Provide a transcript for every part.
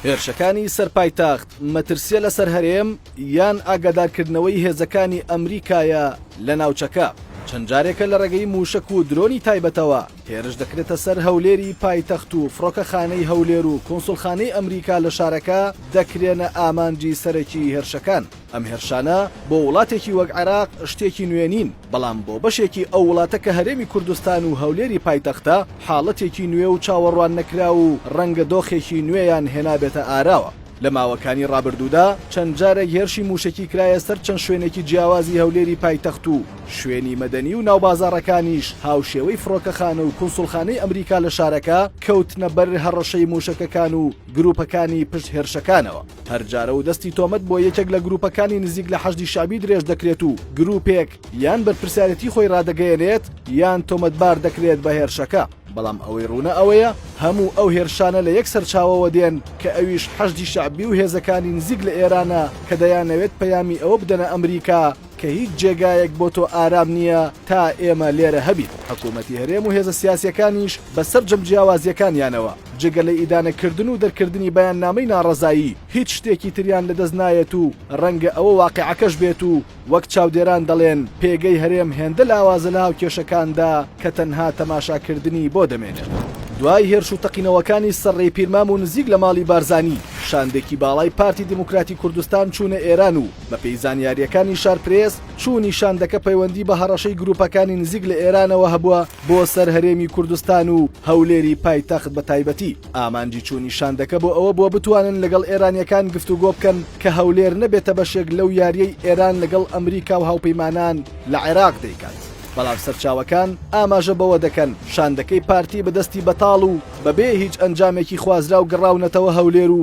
هێرشەکانی سەر پایتەخت مەترسیە لەسەر هەرێم یان ئاگادارکردنەوەی هێزەکانی ئەمریکایە لە ناوچەکە چەند جارێکە لە ڕێگەی موشک و درۆنی تایبەتەوە هێرش دەکرێتە سەر هەولێری پایتەخت و فڕۆکەخانەی هەولێر و کونسوڵخانەی ئەمریکا لە شارەکە دەکرێنە ئامانجی سەرەکیی هێرشەکان. ئەم هێرشانە بۆ وڵاتێکی وەک عێراق شتێکی نوێ نین، بەڵام بۆ بەشێکی ئەو وڵاتە کە هەرێمی کوردستان و هەولێری پایتەختە، حاڵەتێکی نوێ و چاوەڕواننەکراو و ڕەنگە دۆخێکی نوێیان هێنابێتە ئاراوە. لە ماوەکانی ڕابردوودا چەند جارێک هێرشی مووشەکی کرایە سەر چەند شوێنێکی جیاوازی هەولێری پایتەخت و، شوێنی مەدەنی و ناوبازاڕەکانیش هاوشێوەی فڕۆکەخانە و کونسوڵخانەی ئەمریکا لە شارەکە کەوتنە بەر هەڕەشەی موشەکەکان و گروپەکانی پشت هێرشەکانەوە. هەر جارەو دەستی تۆمەت بۆ یەکێک لە گروپەکانی نزیک لە حەشدی شەعبی درێژ دەکرێت و گروپێک یان بەرپرسیارێتی خۆی رادەگەیەنێت یان تۆمەتبار دەکرێت بە هێرشەکە. بەڵام ئەوەی روونە ئەوەیە هەموو ئەو هێرشانە لە یەک سەرچاوەوە دێن کە ئەویش حەشدی شەعبی و هێزەکانی نزیک لە ئێرانە کە دەیانەوێت پەیامی ئەوە بدەنە ئەمریکا کە هیچ جێگایەک بۆ تۆ ئارام نییە تا ئێمە لێرە هەبین. حکوومەتی هەرێم و هێزە سیاسییەکانیش بە سەرجەم جیاوازییەکانیانەوە، جگە لە ئیدانەکردن و دەرکردنی بەیاننامەی ناڕەزایی، هیچ شتێکی تریان لەدەست نایەت و ڕەنگە ئەوە واقیعەکەش بێت و وەک چاودێران دەڵێن، پێگەی هەرێم هێندە لاوازە لە هاوکێشەکاندا کە تەنها تەماشاکردنی بۆ دەمێنێت. دوای هێرش و تەقینەوەکانی سەر ڕێی پیرمام و نزیک لە ماڵی بارزانی، شاندێکی باڵای پارتی دیموکراتی کوردستان چوونە ئێران و، بەپێی زانیارییەکانی شارپرێس، چوونی شاندەکە پەیوەندی بە هەڕەشەی گرووپەکانی نزیک لە ئێرانەوە هەبووە بۆ سەر هەرێمی کوردستان و هەولێری پایتەخت بە تایبەتی. ئامانجی چوونی شاندەکە بۆ ئەوە بووە بتوانن لەگەڵ ئێرانییەکان گفتوگۆ بکەن کە هەولێر نەبێتە بەشێک لەو یارییەی ئێران لەگەڵ ئەمریکا و هاوپەیمانان لە عێراق دەیکات. بەڵام سەرچاوەکان ئاماژە بەوە دەکەن، شاندەکەی پارتی بە دەستی بەتاڵ و بەبێ هیچ ئەنجامێکی خوازراو گەڕاونەتەوە هەولێر و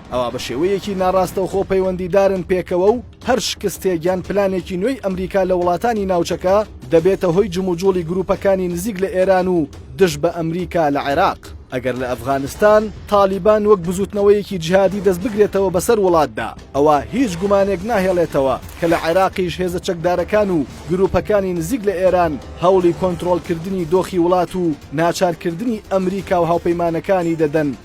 ئەوا بە شێوەیەکی ناڕاستەوخۆ پەیوەندیدارن پێکەوە و هەر شکستێک یان پلانێکی نوێی ئەمریکا لە وڵاتانی ناوچەکە دەبێتە هۆی جموجوڵی گروپەکانی نزیک لە ئێران و دژ بە ئەمریکا لە عێراق. ئەگەر لە ئەفغانستان تاڵیبان وەک بزوتنەوەیەکی جیهادی دەست بگرێتەوە بەسەر وڵاتدا، ئەوا هیچ گومانێک ناهێڵێتەوە کە لە عێراقیش هێزە چەکدارەکان و گروپەکانی نزیک لە ئێران هەوڵی کۆنترۆڵکردنی دۆخی وڵات و ناچارکردنی ئەمریکا و هاوپەیمانەکانی دەدەن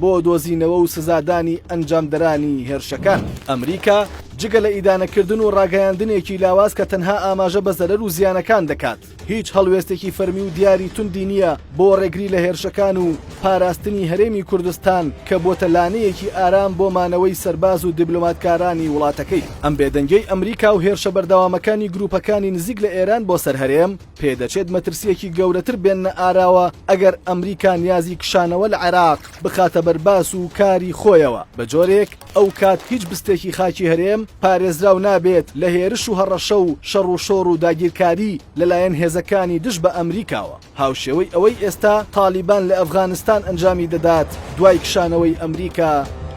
بۆ دۆزینەوە و سزادانی ئەنجامدەرانی هێرشەکان. ئەمریکا جگە لە ئیدانەکردن و ڕاگەیاندنێکی لاواز کە تەنها ئاماژە بە زەرەر و زیانەکان دەکات، هیچ هەڵوێستێکی فەرمی و دیاری توندی نییە بۆ ڕێگری لە هێرشەکان و پاراستنی هەرێمی کوردستان کە بۆتە لانەیەکی ئارام بۆ مانەوەی سەرباز و دیبلۆماتکارانی وڵاتەکەی. ئەم بێدەنگیەی ئەمریکا و هێرشە بەردەوامەکانی گروپەکانی نزیک لە ئێران بۆ سەر هەرێم، پێدەچێت مەترسییەکی گەورەتر بێننە ئاراوە ئەگەر ئەمریکا نیازی کشانەوە لە عێراق بخاتە بەر باس و کاری خۆیەوە، بە جۆرێک ئەو کات هیچ بستێکی خاکی هەرێم پارێزراو نابێت لە هێرش و هەڕەشە و شەڕ و شۆڕ و داگیرکاری لەلایەن هێزەکانی دژ بە ئەمریکاوە. هاوشێوەی ئەوەی ئێستا تاڵیبان لە ئەفغانستان ئەنجامی دەدات، دوای کشانەوەی ئەمریکا،